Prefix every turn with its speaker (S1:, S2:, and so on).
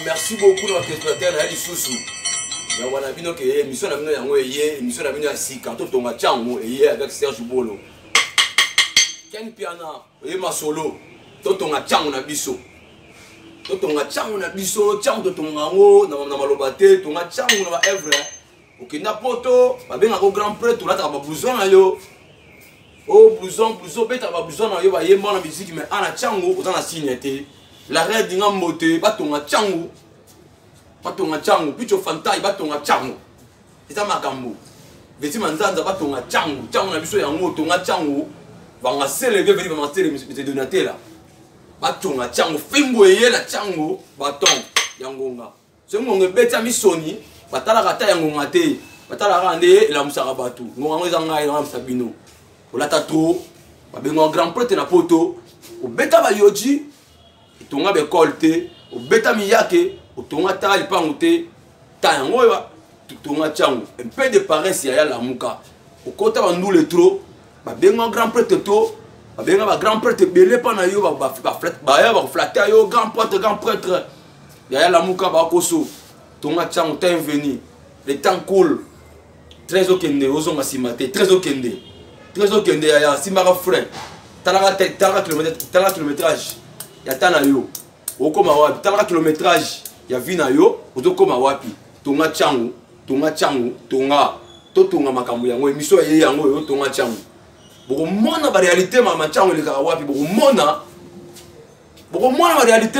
S1: merci beaucoup na orchestrateur na ye lisusu ya wana bino ke émission na bino yango eye émission na bino ya sika totonga ntango eye avec serge bolo ken piana oye masolo totonga ntango na biso totonga ntango na biso ntango totonga yango na maloba te tonga ntango na baevre okenda poto babengaka grand prêtre olataka bablouson na yo o oh, blouson blouson obetaka bablouson na yo bayemba na miziki mai ana ntango oza na signe te la reine dinga mbote batonga ntango batonga ntango picho fantai batonga ntango eza makambo veti manzanza batonga cango cango na biso yango tonga cango bangasele mpe veti bamasele mete donatela batonga cango fimbo eye na cango baton ya ngonga soki ngonga ebetami soni batalaka ata ya ngonga te batalaka nde elamusaka bato ngonga yango eza ngai elamusa bino olata tro babengaka grand prete na poto obeta bayoji etonga bekole te obeta miyake otonga tala lipango te ta yango oyo totonga tiango un peu de paresse yaya lamuka okota bandule tro babenga grand prêtre to babenga bagrand prêtre ebele mpa na yo baya bakoflate yo grand prêtre grand prêtre yaya lamuka bakoso tonga tiango ta inveni le temps coule très okende ozonga nsima te très okende très okende yaya simbaka frein talaka te talaka kilométrage talaka kilométrage ya ta na yo okoma wapi talaka kilométrage ya vie na yo ozokoma wapi tonga ntango tonga ntango tonga totonga makambo yango emission eye yango oyo tonga ntango bokomona barealité mama ntango elekaka wapi bokomona bokomona barealité